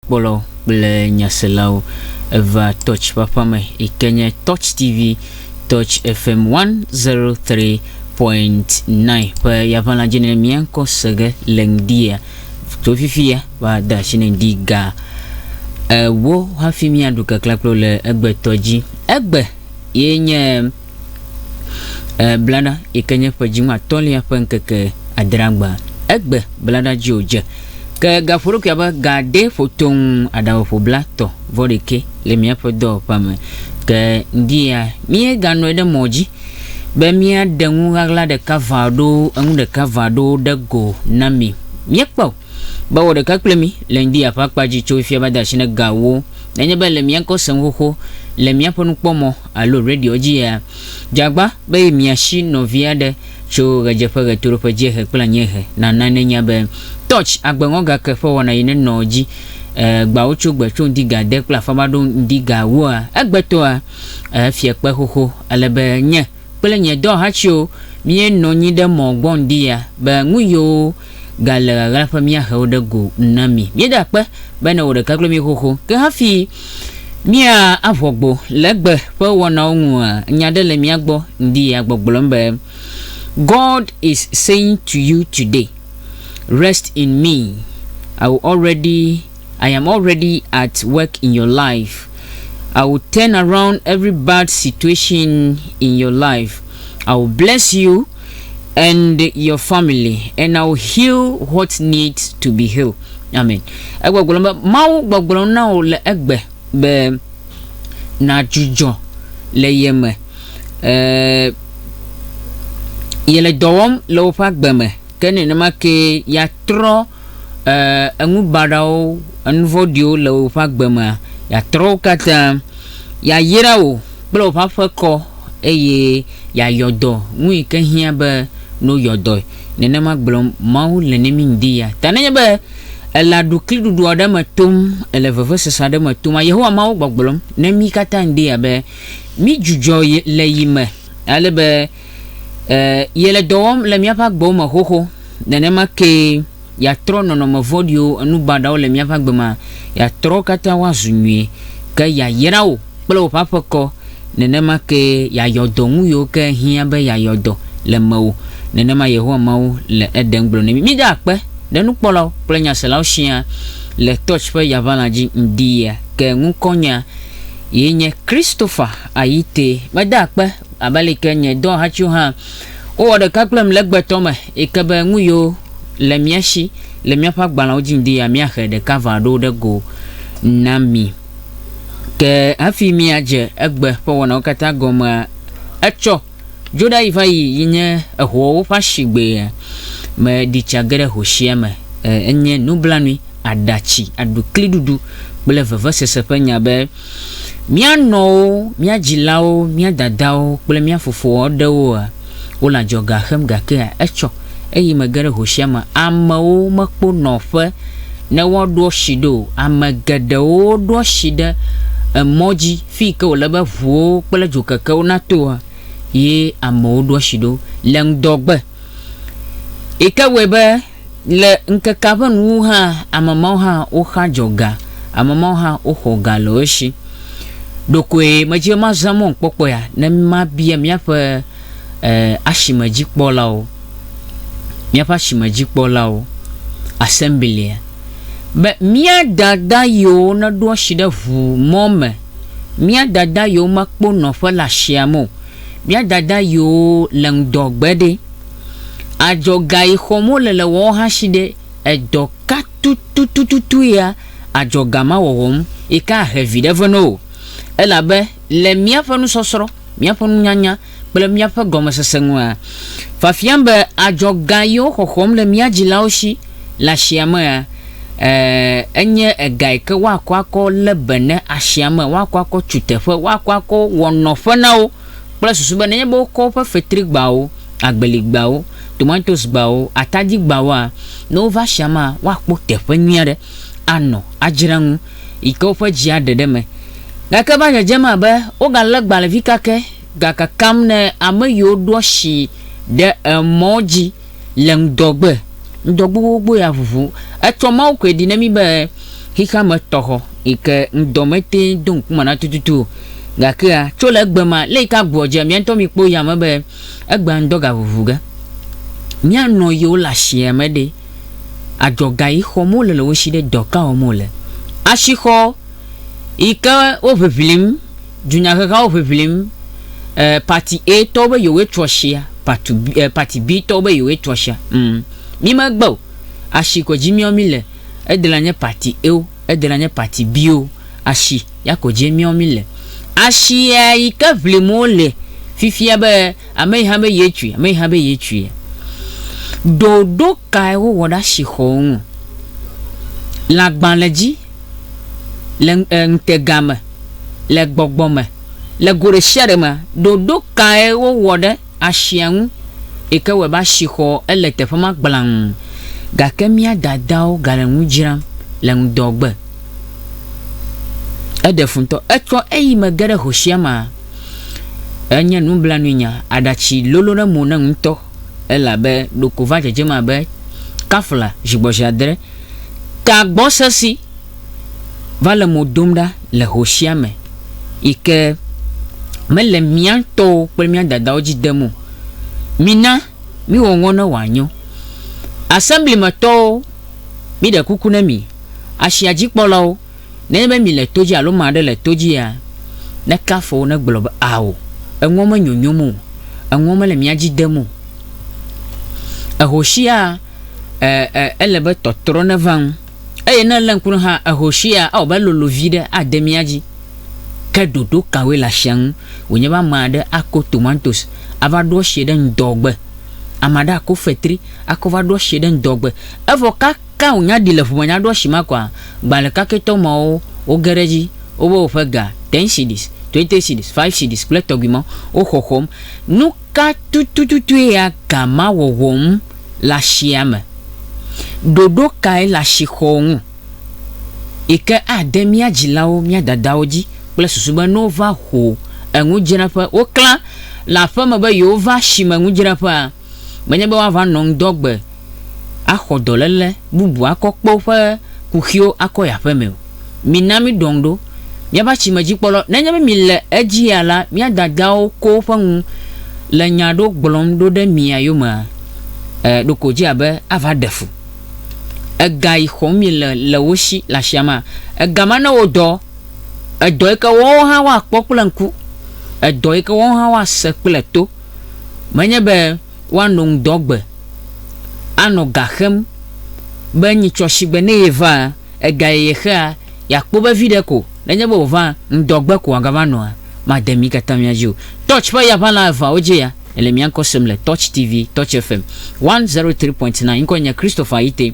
Kpɔlawo kple nyaselawo, eva Touch ƒe aƒea me yi ke nye Touch TV, Touch FM 103.9 ƒe yaʋala dzi ne mía ŋkɔ se ge le ŋdia. Tso fifia va de asi ne ŋdi ga ewo hafi míaɖu keklẽ kple wo le egbetɔ dzi. Egbe ye nye E, blaɖa yi ke nye ƒe dziŋɔ atɔ̃lia ƒe ŋkeke adrea gbea, egbe blaɖa dzi wòdze. Ke gaƒo ɖokui abe gaɖee ƒo toŋ aɖaŋeƒo blatɔ vɔ ɖekɛ le míaƒe dɔwɔƒea me. Ke ŋdi ya míeganɔe ɖe mɔ dzi be míaɖe ŋu ɣaɣla ɖeka ʋã ɖo eŋu ɖeka ʋã ɖo ɖe go na mi. Míekpɔ be wɔ ɖeka kple mi le ŋdi ya ƒe akpa dzi tso fifia va de asi ne gawo. Nenye be le mía ŋkɔ sem xoxo le míaƒe nukpɔmɔ alo radio dzi ya, dze agba be mia si nɔvi aɖe tso ɣedzeƒe, ɣetoɖoƒe, dziehe kple anyiehe nana nenya be Touch agbeŋɔgake ƒe wɔna yi nenɔ dzi e gbawo tso gbe tso ŋdi ga de kple afama ɖo ŋdi ga wua egbetɔa e fia kpe xoxo ale be nye kple nye dɔhatsiwo mie nɔ nyi ɖe mɔ gbɔ ŋdi ya be ŋuyiwo gale ɣaɣla ƒe míahe wo ɖe go na mi. Míeda akpe bene wò ɖeka kloe míexoxo. Ke hafi mía aʋɔgbo le egbe ƒe wɔnawo ŋua, nya aɖe le mía gbɔ ŋdi ya gbɔgblɔm be, God is saying to you today, Rest in me, I will already, I am already at work in your life, I will turn around every bad situation in your life, I will bless you, and your family and I will heal what needs to be healed. Amen. Egbɔgblɔ be Mawu gbɔgblɔ na wò le egbe be nàdzudzɔ le ye me. Ee, yele dɔ wɔm le woƒe agbe me ke nenema ke yeatrɔ Ẽ, enu baɖawo, enu vɔ̃ɖiwo le woƒe agbe me. Yeatrɔ wo katã. Yeayra wò kple wò ƒe aƒe kɔ, eye yeayɔ dɔ, nu yi ke hiã be ne woyɔ dɔe. Nenema gblɔm Mawu le ne mí ŋdi ya ta. Nenye be èle aɖukliɖuɖu aɖe me tom, èle vevesese aɖe me toma, Yehowa Mawu gbɔgblɔm ne mí katã ŋdi ya be, Mídzudzɔ le yi me, ale be, Ẽ, yele dɔ wɔm le míaƒe agbewo me xoxo. Nenema kee yeatrɔ nɔnɔme vɔ̃ɖiwo, enu baɖawo le míaƒe agbe mea, yeatrɔ wo katã woazu nyui. Ke yeayra wò kple wò ƒe aƒe kɔ. Nenema kee yeayɔ dɔ ŋu yiwo ke hiã be yeayɔ dɔ le mewò. Nenema Yehowa Mawu le Eden gblɔ na mí. Mida akpe ɖe nukpɔlawo kple nyaselawo siaa le Touch ƒe yaʋalã dzi ŋdi ɣia. Ke ŋkɔnyea ye nye Christopher Ayite. Meda akpe Abe alike nye dɔhatsiwo hã wowɔ ɖeka kplem le gbetɔ me yi ke be nu yiwo le mía shi le míaƒe agbalẽwo dzi ŋdi ya, míahe ɖeka va ɖo ɖe go na mi. Ke hafi míadze egbe ƒe wɔnawo katã gɔmea, etsɔ dzoɖayi va yi yi nye ehoawo ƒe asigbea. Meɖi tsa ge ɖe hosia me. Enye nublanui aɖatsi aɖukliɖuɖu kple vevesese ƒe nya be Mía nɔwo, mía dzilawo, mía dadawo, kple mía fofo aɖewoa? Wole adzɔga xem gakea? Etsɔ eyime ge ɖe ho sia me. Amewo mekpo nɔƒe ne woaɖo asi ɖo o. Ame geɖewo ɖo asi ɖe emɔ dzi fiyi ke wòle be ʋuwo kple dzokekewo natoa, ye amewo ɖo asi ɖo le ŋdɔgbe, yi ke wɔe be, Le ŋkekea ƒe nuwuwu hã, ame mawo hã woxa dzɔ ga, ame mawo hã woxɔ ga le wo si. Ɖekoe medze be mazã mɔnukpɔkpɔ ya ne mabia míaƒe asimedzikpɔlawo, míaƒe asimedzikpɔlawo, assemblia, be, Mía dada yiwo neɖo asi ɖe ʋu mɔ me, mía dada yiwo mekpɔ nɔƒe le asia me o, mía dada yiwo le ŋdɔ gbe ɖe? Adzɔga yi xɔm wole le wɔɔ hã shi ɖe edɔ ka tutututu yea adzɔga ma wɔwɔ ŋu yi ke ahe viɖe vɛ na wò. Elabe le míaƒe nusɔsrɔ̃, míaƒe nunyanya, kple míaƒe gɔmesese ŋua, fiafiam be adzɔga yi woxɔxɔm le mía dzilawo shi le ashia mea, e, enye ega yi ke woakɔ akɔ lé be ne ashia me, woakɔ akɔ tu teƒe, woakɔ akɔ wɔ nɔƒe na wo. kple susu be nenye be wokɔ woƒe fetrigbawo, agbeligbawo, tomatosgbawo, atadigbawoa, ne wova asiamea, woakpɔ teƒe nyui aɖe anɔ, adzra nu, yi ke woƒe dzi aɖe ɖe eme. Gake eva dzedzem abe wogalé gbalẽvi kakɛ gakakam ne ame yiwo ɖo asi ɖe emɔ dzi. le ŋdɔgbe, ŋdɔgbe gbogbo ya ʋuʋu. Etsɔ Mawu koe ɖi na mí be xexea me tɔxɔ yi ke ŋdɔ mete ŋu do ŋku me na tututu o. Gakea, tso le egbe ma, le yi ke agbeɔ dzea, mía ŋutɔ mí kpɔ yame be egbea ŋdɔ gaʋuʋu ge. Mía nɔ yiwo le asia me ɖe, adzɔga yi xɔm wole le wo si ɖe? Dɔ ka wɔm wole? Asixɔ. yi ke wo ʋiʋlim, dunyahehawo ʋiʋlim, e, parti A tɔwo be yewoe tu ashia, parti B, e, parti B tɔwo be yewoe tu ashia. Hm, mi me gbe o. Ashi ko dzi miɔ mi le. Ede na nye parti A wo, ede na nye parti B wo. Ashi ya ko dzie miɔ mi le. Ashia yi ke ʋlim wo le fifia be ame yi hã be ye tui, ame yi hã be ye tui. Ɖoɖo kae wo wɔ ɖe ashi xɔwo ŋu? Lãgbalẽ dzi le ŋutega me, le gbɔgbɔ me, le go ɖesiaɖe me. Ɖoɖo kae wowɔ ɖe asia ŋu yi ke wɔe be asixɔ ele teƒe ma gblaŋ? Gake mía dadawo gale nu dzram le ŋdɔgbe. Eɖe fu ŋutɔ. Etsɔ eyime ge ɖe hosiama. Enye nublanuinya, aɖatsi lolo ɖe mo nam ŋutɔ elabe ɖeko va dzedzem abe kafla zigbɔzi adre Tagbɔsesi va le mo dom ɖa le ho sia me yi ke mele mía ŋutɔwo kple mía dadawo dzi dem o. Mina míwɔ ŋɔ ne wòanyo. Assembly me tɔwo, míɖe kuku na mi, asia dzikpɔlawo, nenye be mile to dzi alo ame aɖe le to dzia, neke afɔ wo ne gblɔ be, Ao, eŋɔ me nyonyom o, eŋɔ mele mía dzi dem o. Eho sia e, e, ele be tɔtrɔ neva ŋu. Eye ne èlé ŋku ɖom hã, ehoshea, ewɔ be elolo viɖe ade mía dzi. Ke ɖoɖo kawoe le ashia ŋu? Wònye be ame aɖe ako tomatosi ava ɖo ashie ɖe ŋdɔgbe. Ame aɖe ako fetri akɔ va ɖo ashie ɖe ŋdɔgbe. Evɔ kaka wònya ɖi le ƒome nya ɖo ashi ma koa, gbalẽ kakɛtɔ mawo woge ɖe edzi, wobe woƒe ga, ten cedis, twenty cedis, five cedis kple tɔgbi mawo, wo xɔxɔm. Nu ka tutututue ya ga ma wɔwɔm? le asia me. Ɖoɖo kae le asixɔ ŋu yi ke ade mía dzilawo, mía dadawo dzi kple susu be ne wova ho enudzraƒe, woklã le aƒeme be yewova asime nudzraƒea, menye be woava nɔ ŋdɔgbe axɔ dɔléle bubu akɔ kpe woƒe kuxiwo akɔ yi aƒemee o? Mina míɖɔ ŋu ɖo. Míaƒe asimedzikpɔla, nenye be mile edzia la, mía dadawo ko woƒe ŋu le nya aɖewo gblɔm ɖo ɖe mia yomea? Ẽ, ɖeko wòdze abe ava ɖe fu. Ega yi xɔm miele le wo si le asia mea? Ega ma ne wo dɔ, edɔ yi ke woawo hã woakpɔ kple ŋku, edɔ yi ke woawo hã woase kple to. Menye be woano ŋdɔ gbe, anɔ ga xem be nyitsɔ shigbe ne yeva. Egayeye xea, yeakpɔ be viɖe ko, nenye be wòva ŋdɔgbe ko wòagava nɔa, made mí katã mía dzi o. Touch ƒe yaʋala eveawo dzi ya, ele mía ŋkɔ sem le Touch TV, Touch FM 103.9. Ŋkɔe nye Christopher Ayite.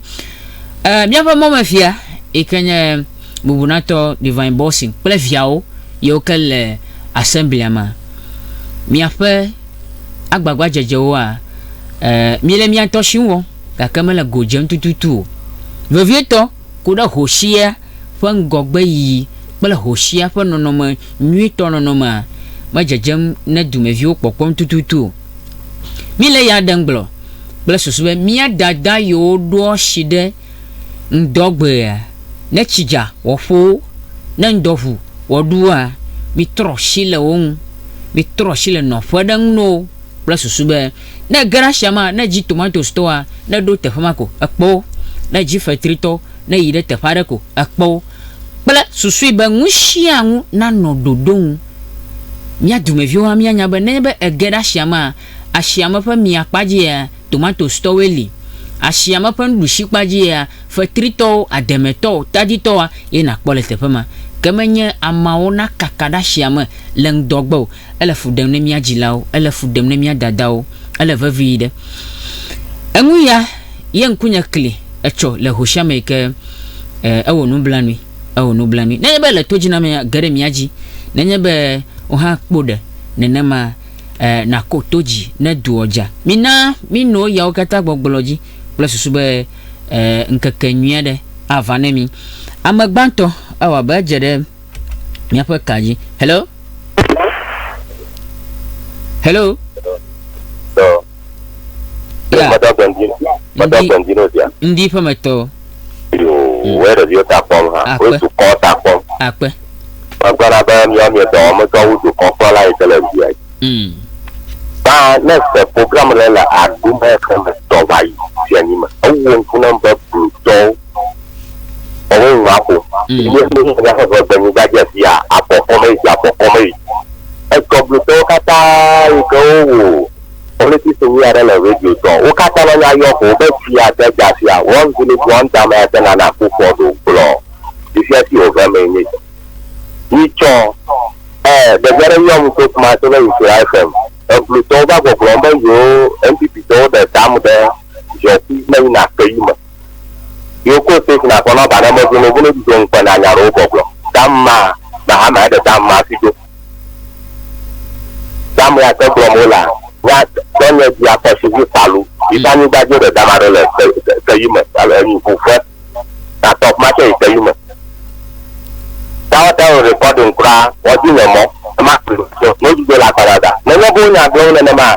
E, míaƒe mɔmefia yi ke nye bubunatɔ Divine Bolson kple viawo yiwo ke le asemblia me. Miaƒe agbagbadzedzewoa, e, míele mía ŋutɔ si ŋu wɔm. gake mele go dzem tututu o. Vevietɔ, ku ɖe hosia ƒe ŋgɔgbeyiyi kple hosia ƒe nɔnɔme nyuitɔ nɔnɔmea medzedzem ne dumeviwo kpɔkpɔm tututu o. Míle ya ɖem gblɔ kple susu be mía dada yiwo ɖoa asi ɖe ŋdɔ gbea, ne tsi dza wɔƒo, ne ŋdɔ ʋu wɔɖua, mitrɔ asi le wo ŋu. Mitrɔ asi le nɔƒe ɖe ŋu na wo kple susu be Ne ege ɖe asia mea, ne edzi tomatosi tɔa, ne eɖo teƒe ma ko, ekpɔ wo. Ne edzi fetri tɔ, ne eyi ɖe teƒe aɖe ko, ekpɔ wo. Kple susui be nu sia nu nanɔ ɖoɖo nu. Mía dumeviwo hã míanya be nenye be ege ɖe asia mea, asiame ƒe mia kpa dzia, tomatosi tɔwoe li. Asiame ƒe nuɖusi kpa dzia, fetri tɔwo, ademe tɔwo, tadi tɔwoa ye nàkpɔ le teƒe ma. Ke menye ameawo nakaka ɖe asiame le ŋdɔ gbe o. Ele fu ɖem ne mía dzilawo, ele fu ɖem ne mía dadawo, ele vevii ɖe. Eŋu ya ye ŋkunye kli etsɔ le ho sia me yi ke e, ewɔ nublanui, ewɔ nublanui. Nenye be le todzinamea, ge ɖe mía dzi, nenye be wò hã kpo ɖe nenema e, nàko to dzi ne doa dza. Mina mino yawo katã gbɔgblɔ dzi kple susu be e, ŋkeke nyui aɖe ava ne mí. Ame gbãtɔ, ewɔ abe edze ɖe. míaƒe ka dzi hello hello Tɔ. Yeah. Mada gbɛndi. Mada Ndi- gbɛndi n'o dia. ŋdi ƒe metɔ Yoo. Wòye ɖeviwo ta kpɔm ha. Akpe. Wòye dukɔ ta kpɔm. akpe Megblɔna be míawo míedɔ wɔm dɔ wu dukɔkplɔla yi ke le via yi. mm. Ba ne se programme ɖe le aɖu me ke me tɔ va yi fianyi me. Ewɔ ŋku nam be blutɔwo Ɔwɔ ŋu aƒo. Yi ne ƒe ŋu aƒo ƒe ƒe nyigba dze fia, akɔ kɔme yi, akɔ kɔme yi. Ekɔ blu tɔwo katã yi ke wowu politics ŋu ya ɖe le radio tɔ. Wo katã na nya yɔ ko be fia de dza fia. One village one dam ya te na na ku fɔ ɖo gblɔ. Yi fia ti wo ve me ni. Yi tsɔ eh de gbe ɖe yɔ mu to kuma to be yi fia FM. Eblu tɔwo va gbɔ gblɔ be yo NPP tɔwo de dam de zɔ ku me yi na ke yi me. Yo ko six na sɔnɔ ba ne me vunu vunu di dong kpe na nya ɖewo gbɔgblɔ. Dam ma na ha ma eɖe dam ma si do. Dam ya te gblɔm wo la nya dɔ nye di akɔ si vi falu. Yi ta nyigba dzi ɖe dam aɖe le te te yi me ale enyi ŋu fe na top ma tsɛ yi te yi me. Ta wo ta wo recording kura wɔ di nye mɔ ma no di do la kpa dada. Ne nye bo nya gblɔm nenema.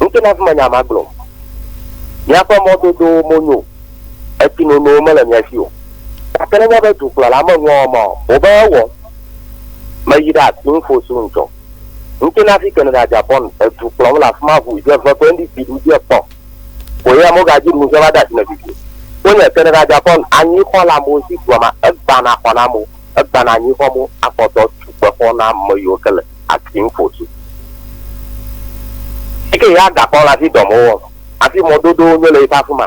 Nuke na menya ma gblɔ. Miaƒe mɔdodowo monyo, etsinonowo mele mia si o. Gake nenye be dukplɔla meŋlɔ wɔ ma o, wobe ewɔ. Meyi ɖe afi ŋfo si ŋutsɔ. Nuke na fike neda Japan edu kplɔm le afima ŋu dze eve koe ŋdi si ɖu dze kpɔ koe ya mogadzi ɖu ŋdze va de asi me vivio. Fonye ke neda Japan anyixɔ le amewo si dua ma egbana xɔ na amewo. Egbana anyi xɔ mo akɔ dɔ tu kpexɔ na ame yiwo ke le ati ŋu ƒo tsi. Eyi ke ya gakɔ le afi dɔ mo wɔ afi mɔ dodowo nyo le yi ƒe afi ma.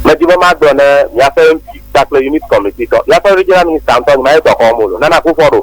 Medi be magblɔ ne miaƒe mp kpakple unit committee tɔ. Miaƒe regional minister ŋutɔ nyi ma ye dɔ xɔ mo lo. Nana Akufo-Addo.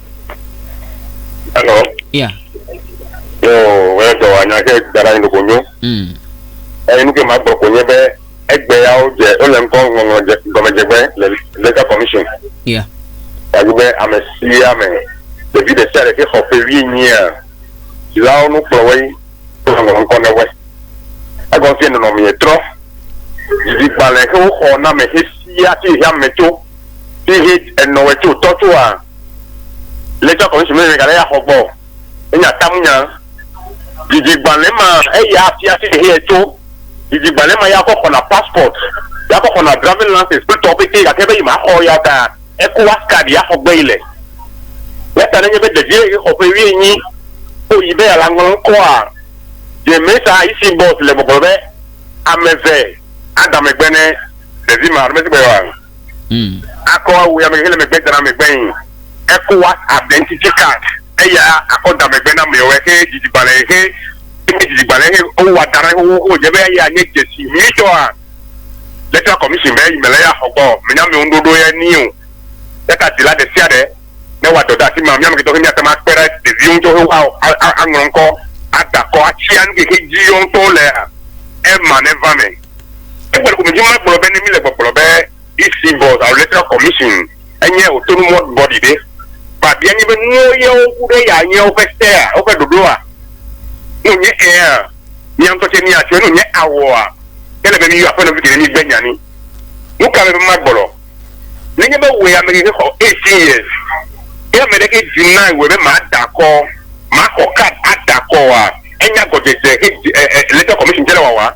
Hello. Ya. Yo, wòle dɔ wa nya ke da ɖe anyi ɖeko nyo. Mm. Eye nu ke ma gblɔ ko nye be egbe yawo dze wole ŋkɔ ŋɔŋlɔ dze gɔmedzegbe le legal commission. Ya. Wòanyi be ame sia ame ɖevi ɖe sia ɖe ke xɔ ƒe wuienyia dzilawo nu kplɔ woe wole ŋɔŋlɔ ŋkɔ ne woe. Egɔme fie nɔnɔmee trɔ. Dzigbalẽ ke woxɔ na ame xexia ti xexeame tso ti xe enɔwe tso tɔ tsoa. Le tsɔ kɔmisi me gale ya xɔ gbɔ. Enya tamu nya. Didi gbalẽ ma eya afia fi he ye tso. Didi gbalẽ ma ya kɔ xɔna passport. Ya kɔ xɔna driving license kple tɔwo pete gake be yi ma xɔ ya ta Ecowas card ya xɔ gbe yi le. Ya ta ne nye be ɖevie yi xɔ ƒe wuienyi ko yi be ya la ŋlɔ ŋkɔa de me sa yi si boss le gbɔgblɔ be ame ve a da megbe ne ɖevi ma alo me si gbe wa. mm. Akɔ awu yame hele megbe dana megbe yin. Eko WhatsApp ɖe ŋtiti card eya akɔ da megbe na mɛwo ehe dzidzigbalɛ ehe enye dzidzigbalɛ ehe o wa dana ehe wo o jebe eya nye jesi mi tɔ a Electoral Commission be yi mele ya xɔ gbɔ me nya mɛwo ŋɖoɖo ye ni o. Yata dila ɖe sia ɖe ne wa dɔ ɖe afima mi ameke tɔ he mi ate ma kpe ɖe ɖeviwo ŋtɔ he wa a a ŋlɔ ŋkɔ ada kɔ atsia nuke he dzi yɔ ŋtɔ le a ema ne va me. Egbe ko medzi magblɔ be ne míle gbɔgblɔ be EC Board alo Electoral Commission enye autonomous body ɖe, mabia mí be nuwo yewo ku ɖe ya nye woƒe sea, woƒe ɖoɖoa? Ne wònye ɛ̃a, mía ŋutɔ tsɛ míatsoe. Ne wònye awɔa, ele be míyɔ aƒenɔvi geɖe mígbe nya ni. Nu ka me be magblɔ? Nenye be wòe ame keke xɔ eighteen years ye ame ɖeke deny wòe be mada akɔ, maxɔ card ada akɔ oa, enya gɔdzedze Electoral Commission tsɛ le wawa.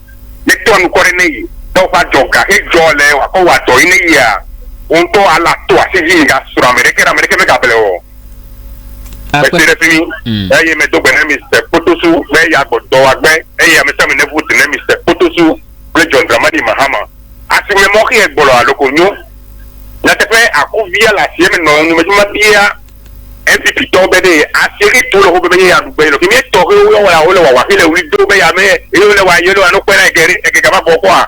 ne tɔa nukɔ ɖe ne yi be woƒe adzɔ ga xe dzɔ le wa kɔ wa dɔ yi ne yia wo ŋutɔ ala to asi dzi yi ga srɔ ame ɖeke ɖe ame ɖeke me ga ble wɔ. Mese ɖe fimi hmm. eye me do gbe ne Mister Kpotosu be ya gbɔ dɔ wa gbe eye ame sami ne vote ne Mister Kpotosu kple John Dramani Mahama asi me mɔ xe gbɔ lɔ aloko nyo. Nyateƒe akuvia la si eme nɔ nu me dzi ma bia Egiptetɔwo be ɖee Asiri to le woƒe be ye ya ɖu gbe nɔ kemi etɔ he woyɔ wɔla wole wawa he le wuli do be ya me eye wole wa yele wa no kpe na ege ɖe ege gava vɔ kɔa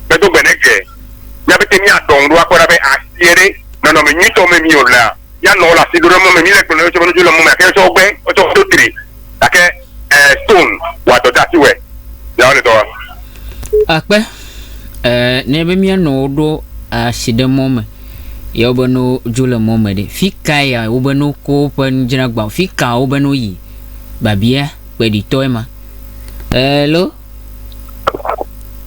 me do gbe ne ge mia be te mia dɔn ɖo akɔ ɖa be asie ɖe nɔnɔ me nyuitɔ me mi o lea ya nɔ wole asi ɖo ɖe mɔ me mi le gblɔ yɔtsɔ be nudzo le mɔ me ake yɔtsɔ gbe yɔtsɔ wo do tri gake eh stone wa dɔ dasi wɛ ya wole dɔ wa. Akpe eh ne be mia nɔ wo ɖo asi ɖe mɔ me Ye wobe no dzo le mɔ me ɖe, fi kae ya wobe no ko woƒe nudzragbawo, fi ka wobe no yi? Babia kpeɖitɔe ma. Hello.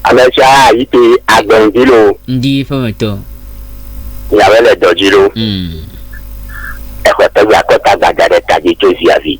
Ame sia yi te agbe ŋdi lo. Ŋdi ƒe me tɔ. Nyawe le dɔ dzi lo. Exɔ tɔgbe akɔta gbada ɖe ta dzi tso zia vi.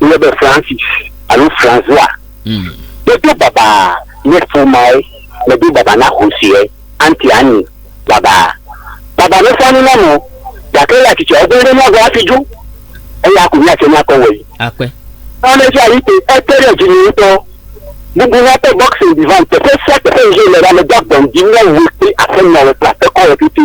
yɔnɛ be Francis alo François mm. medo baba ne fumae medo baba na Hosea anti anyi baba baba ne fani na mo gake la titse ɔgbɛ ɖe nyagɔ afi dzo eya ko nyatse nyakɔ wɔ yi akpɛ ɔne dzi ayi te ete ɖe dzi mi ŋutɔ bubu na te boxing divan teƒe sia teƒe yi le la me do agbɔn di ne wo kple aƒenɔwo kple aƒekɔwo pete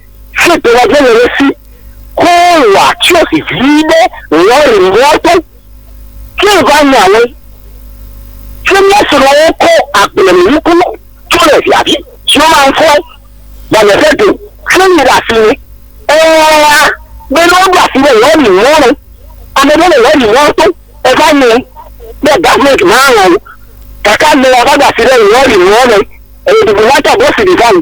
si dɔwɔƒe le ɖe si ko wòa kiosk vi ɖe lɔri mɔto. Ke va nya ale si mía srɔ̃wo kɔ agblemenuku tso le via vi siwo maŋkɔe va nye ƒe do ƒe yi ɖe asi me. Eŋlɔa be ne woɖo asi ɖe lɔri mɔ nu ame ɖe le lɔri mɔto eva nyɔe be Government malɔ̃ wo gake amea va ɖo asi ɖe lɔri mɔ nu eye bubu nata bɔs ɖi va nu.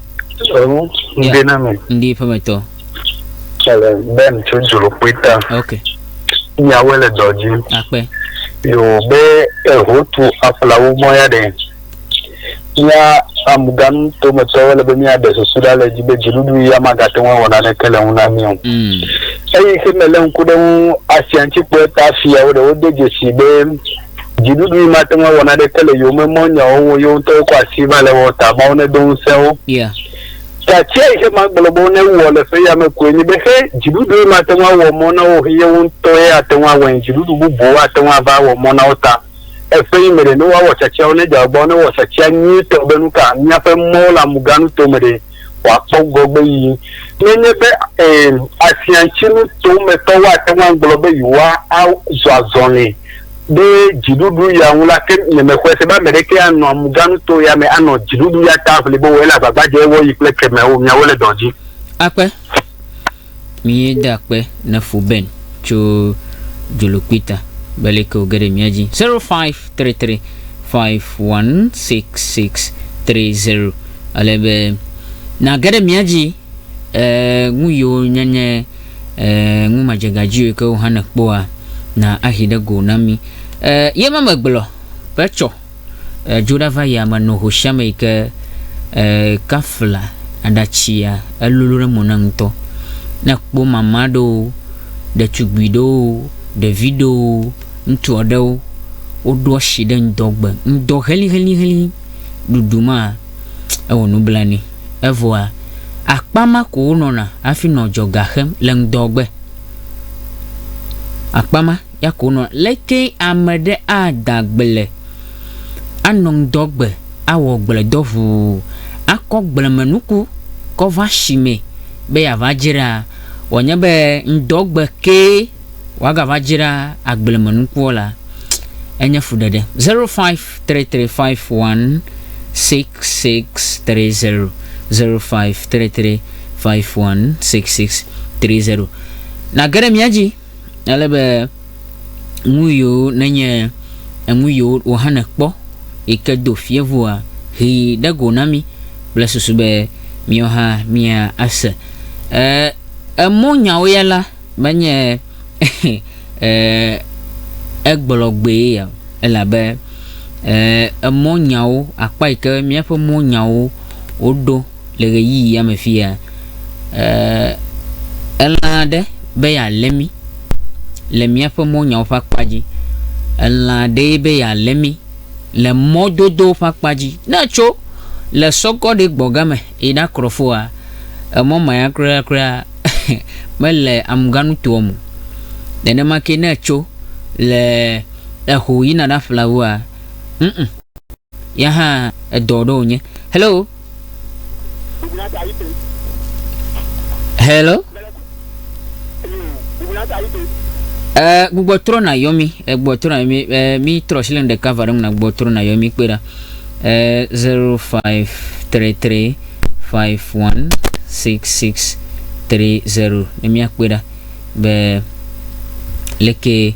Ɔɔ, ŋdi Yeah. na mi. Ŋdi ƒemetɔ. Ele Ben tso Dzolokpui ta. Ok. Miawoe le dɔ dzi. Akpe. Yo be ehotu aƒlawo mɔ ya ɖe. Mía amganu tometɔwo le be míaɖe susu ɖa le edzi be dziɖuɖu ya magate ŋu awɔ naneke le ŋu na mí o. Mm. Eyi ke melé ŋku ɖe eŋu asiaŋtsikpɔɛ ta fiawo ɖe wode dzesii be Dziɖuɖui mate ŋu awɔ naneke le yewome mɔ nyawo ŋu o, yewo ŋutɔwo kɔ asi va le ewɔm ta. Mawu nedo ŋusẽ wo. Yeah. Tatsia yi xe magblɔ be wonewɔ le ƒe yame koe nye be xe dziɖuɖui mate ŋu awɔ mɔ na wo o xe yewo ŋutɔ ye ate ŋu awɔe. Dziɖuɖu bubuwo ate ŋu ava awɔ mɔ na wo ta. Eƒe yi me ɖe, ne woawɔ tatsiawo ne dze agbagba wo ne wɔ tatsia nyuitɔ be nuka míaƒe mɔwo le amuganuto me ɖe. wòakpɔ ŋgɔgbeyiyi. Nenye be ẽ, asiãtsinu tometɔ woate ŋu agblɔ be yewoazɔ azɔli ɖe dziɖuɖu ya ŋu la, ke nyemexɔe se be ame ɖekee anɔ amuganuto ya me anɔ dziɖuɖu ya ta ʋli be wòele agbagba dzem ewɔɣi kple kemɛ o. Miawo le dɔ dzi. Akpe. Mie de akpe ne fu Ben tso dzolokpui ta be leke wòge ɖe mía dzi. 0533 516630 Ale be nage ɖe mía dzi e, nu yiwo nyenye e, nu madzegadziwo ke wohã nekpɔa na ahi ɖe go na mi. E, ye ma megblɔ be tsɔ. e dzo ɖa va yame no hoshame yi ke e kafla aɖatsia elolo ɖe mo na ŋutɔ ne kpɔ mama ɖewo ɖetugbui ɖewo ɖevi ɖewo ŋutsu aɖewo woɖo asi ɖe ŋdɔ gbe ŋdɔ heliheliheli ɖuɖu ma ewɔ nublanui evɔa akpa ma ko wonɔna hafi nɔ dzɔga xem le ŋdɔ gbe akpa ma Yakonɔ, Lekee ame ɖe ada gble, anɔ ŋdɔ gbe, awɔ gbledɔ ʋuu, akɔ gblemenuku kɔ va shimɛ be yeava dzra, wòanye be ŋdɔ gbe kee wòagava dzra agblemenukuɔ la, enye fuɖeɖe. Zero five three three five one six six three zero, Zero five three three five one six six three zero. Nàge ɖe mía dzi. ale be nu yiwo nenye enu yiwo wòhana kpɔ yi ke do fievua, he ɖe go na mí kple susu be míawo hã míase. Ee, emɔnyawo ya la menye ee, egblɔgbee ya o, elabe ee, emɔnyawo, akpa yi ke míaƒe mɔnyawo woɖo le ɣeyiɣi ya me fi ya, ee, elã aɖe be yealé mí le míaƒe mɔnyawo ƒe akpa dzi. Elã aɖee be yealé mí le mɔdodowo ƒe akpa dzi. Ne ètso le sɔgɔɖi gbɔga me yi ɖakrɔ foa, emɔ ma ya kurakuraa mele amuganutoa me o. Nenema ke ne ètso le eho yina ɖaƒle awua, ŋ-ŋ. ya hã edɔ ɖo wònye. Hello. Hello. Eh, gbugbɔ trɔ na yɔmi, eh, gbugbɔ trɔ na yɔmi, eh, mi trɔ si le nu ɖeka va ɖe ŋu na gbugbɔ trɔ na yɔmi kpe ɖa. Eh, 0533 516630 ne miakpe ɖa be leke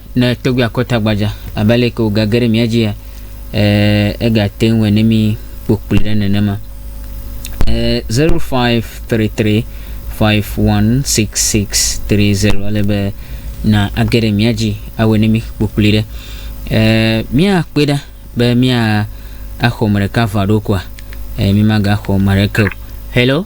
Ne tɔgbui akɔ ta gbadza abe ale ke wògage ɖe mía dzia, egate ŋu wòe ne mí kpokpli ɖe nenema. Zero five three three five one six six three zero ale be na age ɖe mía dzi awɔe ne mí kpokpli ɖe. Míakpɔe ɖa be mía axɔ me ɖeka va ɖo koa? Mí magaxɔ me ɖeke o. Hello.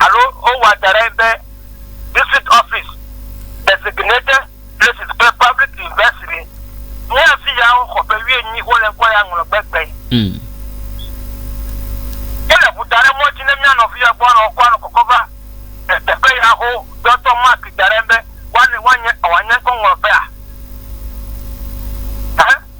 alo wowɔa da ɖe be district office, designated places kple public university. Nye afi ya woxɔ ƒe wuienyi wole ŋkɔ ya ŋlɔ gbegbe. Wole ŋu da ɖe mɔ dzi ne mía nɔvi ya gbɔ anɔ ŋkɔ anɔ kɔkɔ va le teƒe ya ho dɔ tsɔ mark da ɖe be woanye ŋkɔ ŋlɔ ƒea.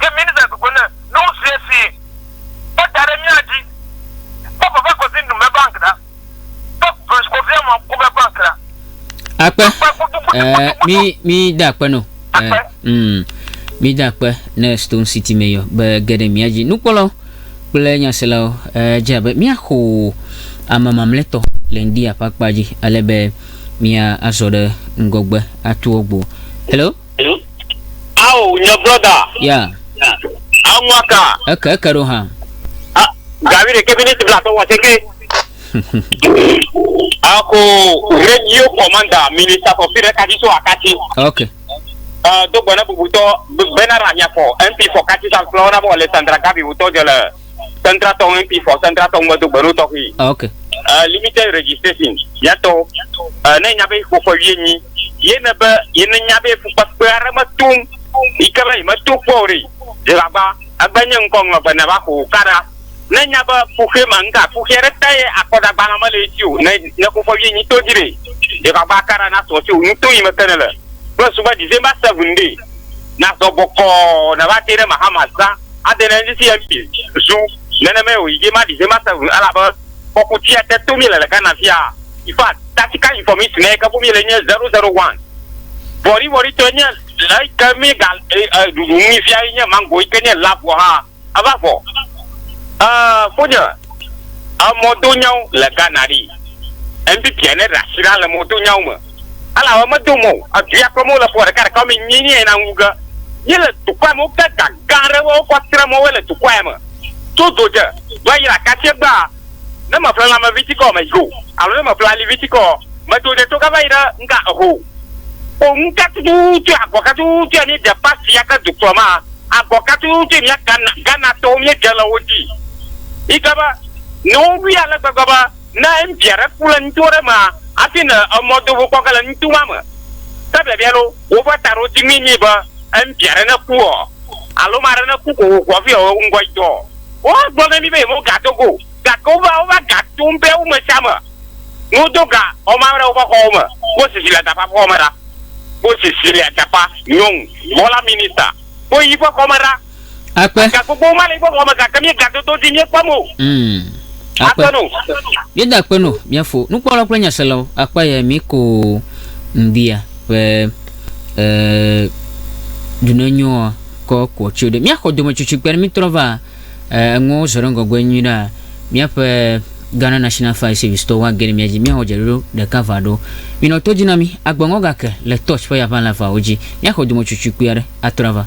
Ke míenɔa gbegbe le nusia si kpɔ da ɖe mía dzi kpɔ vava kɔsi nu me bank ɖa kpɔ branch kɔ via mɔ kube bank ɖa. Akpe. Eh, mi mi da akpe no. Eh, mm, mi da akpe ne Stone City me yɔ be geɖe mía dzi. Nukpɔlɔ kple nyaselawo eh, dze abe míaxo ame mamletɔ le ŋdi aƒe akpa dzi ale be mía azɔ ɖe ŋgɔgbe atuɔ gbo. Hello. Ao, nye brɔda. Ya. Anua ka. Eke eke ɖo hã. Gavi ɖeke miniti blatɔ wɔ seke. Ako radio commander minister for fire kati so akati. Okay. Uh, do gbɔna bubutɔ bena ra nyafɔ MP for kati san flɔ na bɔ Alexandra Gavi wutɔ jele. central tɔn MP for central tɔn medo gbe ɖo tɔxi. Ah, ok. Uh, limited registration yɛtɔ uh, ne nya be ƒoƒe wie nyi ye ne be ye ne nya be fukpekpe aɖe metum yi ke be yi meto kpɔ o ɖe yi agba agba nye ŋkɔ ŋlɔ be ne va ko kaɖa ne nya be fuxe ma ŋka fuxe aɖe te ye akɔdagbalẽ mele esi o ne ne ƒoƒe wie nyi to dzi ɖe yi agba kaɖa na sɔ tso nuto yi me ke ne le kple sugbɛ december seven ɖe na sɔ bɔkɔ ne va te ɖe mahama zã. ade ɖe ŋdi sia mí zu. Nenemae wòyi dzi maɖi he mase ŋu elabe kpɔku tsia te to míele le Ghana fia. Infact, tactical information yike ƒom míele nye zero zero one. Vɔ̃ɖivɔ̃ɖitɔe nye le eyike míega ɖuɖu ŋui fia enye mango yike nye lab vɔ hã eva vɔ. Eeee fonye, emɔdonyawo le Ghana ɖi. Ŋdi bianɛ ɖe asi ɖa le mɔdonyawo me. Elawe medo mɔ o, edu ya kple mɔ le ƒoa ɖeka ɖeka wome nyi nyi na ŋu ge. Yi le dukɔ ya me wo ke ga gã ɖe wo kɔ tre mɔ we le dukɔ ya me. To do dje do ayi le akatie gba a, ne me ƒle lãme vi tikɔ me yo alo ne me ƒle ali vi tikɔ ɔ, me do dje to ga va yi ɖe ŋga eho o. Kpo ŋu ka tututu agɔ ka tututu ya mi ɖe pasi ya ke dukplɔ ma a, agɔ ka tututu yi mia Ghana, Ghana tɔwo mi ɖe le wo dzi yi ke be ne wo wui ale gbegbe be. ne ŋutsu aɖe ku le nuto ɖe mea, hafi nɔ emɔ do ŋu kpɔ ge le nuto ma me. Ke biabia loo, woƒe taɖodzinue nye be ŋutsu aɖe ne ku ɔ, alo ame aɖe ne ku ko wòxɔ hafi ɔ, ŋgɔ yi dɔ ɔ, woagblɔ na mí be yemega do go o. Gake wova, wova ga to ŋutɔe wo me sia me ne wodo ga ɔ ma ɖe woƒe xɔwo me. Kpɔ Cecilia Dafa ƒe xɔme ɖa. Kpɔ Cecilia Dafa, nyɔnu, bɔla minista, kpɔ yi ƒe xɔme ɖa. Akpe. Ga gbogbowo ma le míaƒe xɔxɔ me gake míegado to dzi míekpɔ mo. Mm. Akpe. Akpe no. Míeda akpe no míafo nukpɔlawo kple nyaselawo. Akpa ye mi ko ŋdia ƒe e dunenyoa kɔ kɔ tso ɖe. Míaxɔ dometsutsui kpe ne mítrɔ va e eŋuwo zɔ ɖe ŋgɔgbe nyui ɖa. Míaƒe Ghana National Fire Service tɔwo age ɖe mía dzi míawɔ dzeɖoɖo ɖeka va ɖo. Minɔ to dzi na mí. Agbeŋɔ gake le Touch ƒe yaʋalɛ avawo dzi. Míaxɔ dometsutsui kpui aɖe atrɔ ava.